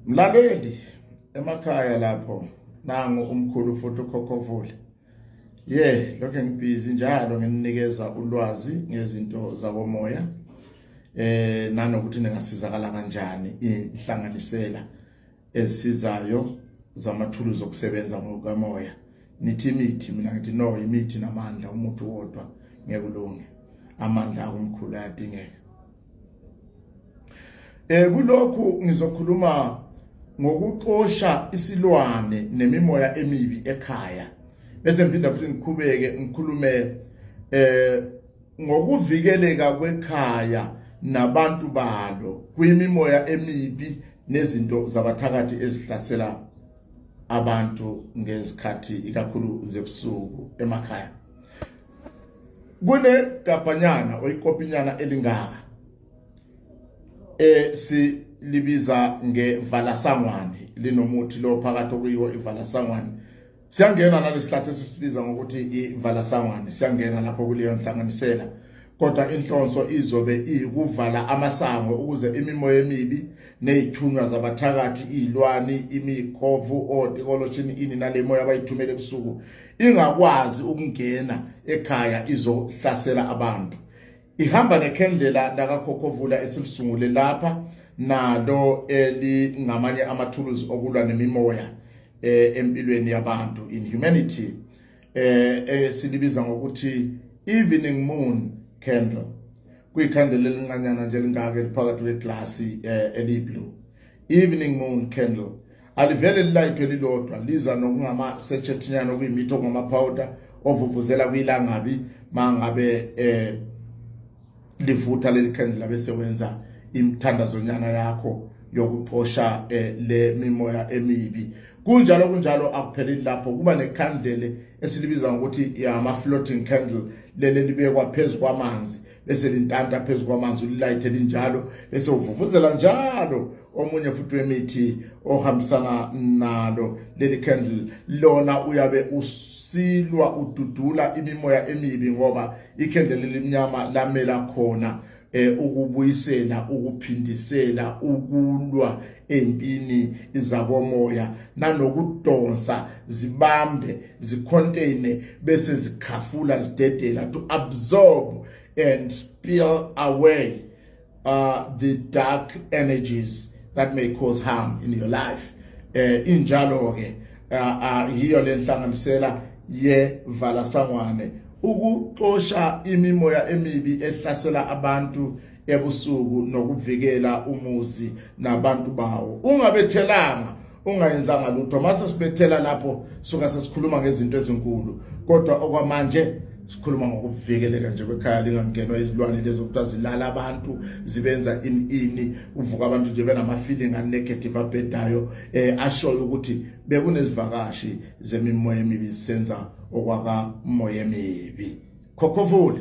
Mlaleli emakhaya lapho nangu umkhulu futhi ukhokhovule ye lokho ngibhizi njalo ngininikeza ulwazi ngezinto zakomoya eh nanokuthi ningasizakala kanjani inhlanganisela ezisizayo zamathuluzi okusebenza ngokukamoya nithi imithi mina ngithi no imithi namandla umuntu wodwa ngeke ulunge amandla akumkhulu ayadingeka eh kulokhu ngizokhuluma ngokuxosha isilwane nemimoya emibi ekhaya bese ngiphinda futhi ngikhubeke ngikhulume eh ngokuvikeleka kwekhaya nabantu balo kwimimoya emibi nezinto zabathakathi ezihlasela abantu ngezikhathi ikakhulu zebusuku emakhaya kune gabhanyana oyikopinyana elingaka eh si libiza ngevalasangwane linomuthi lo phakathi okuyiwo ivalasangwane Siyangena nalesihlathi esisibiza ngokuthi ivala sangwane siyangena lapho kuleyo nhlanganisela kodwa inhlonso izobe iyikuvala amasango ukuze imimoya emibi nezithunywa zabathakathi izilwani imikhovu otikoloshini ini nalemoya abayithumela ebusuku ingakwazi ukungena ekhaya izohlasela abantu ihamba nekhendlela lakakhokhovula esilisungule lapha nalo elingamanye amathuluzi okulwa nemimoya eh, empilweni yabantu in humanity eh, eh silibiza ngokuthi evening moon candle kuyikhandela elincanyana nje lingaka eliphakathi kweglass eh, eliyi blue evening moon candle alivele lilayitho elilodwa liza nokungama-sechethinyana okuyimithi okungamaphawuda ovuvuzela kwilangabi mangabe eh livutha leli khandlela bese wenza imthandazonyana yakho yokuxosha eh, le mimoya emibi kunjalo kunjalo akupheleli lapho kuba nekhandlele esilibiza ngokuthi ama floating candle lele libekwa phezulu kwamanzi bese lintanta phezu kwamanzi ulilayithe linjalo bese uvuvuzela njalo omunye futhi wemithi ohambisana nalo leli candle lona uyabe usilwa ududula imimoya emibi ngoba ikhendle lelimnyama lamela khona eh ukubuyisela ukuphindisela ukulwa empini izakomoya nanokudonsa zibambe zicontaine bese zikhafula zidedela to absorb and spill away uh, the dark energies that may cause harm in your life eh injalo ke uh, uh, yiyo lenhlanganisela ye vala sangwane ukuxosha imimoya emibi ehlasela abantu ebusuku nokuvikela umuzi nabantu bawo ungabethelanga ungayenzanga lutho mase sibethela lapho suka sesikhuluma ngezinto ezinkulu kodwa okwamanje sikhuluma ngokuvikeleka nje kwekhaya lingangenwa izilwane lezo kuthiwa zilala abantu zibenza ini ini uvuka abantu nje benama-feeling anegative abhedayo eh ashoyo ukuthi bekunezivakashi zemimoya emibi zisenza okwakamoya emibi khokhofula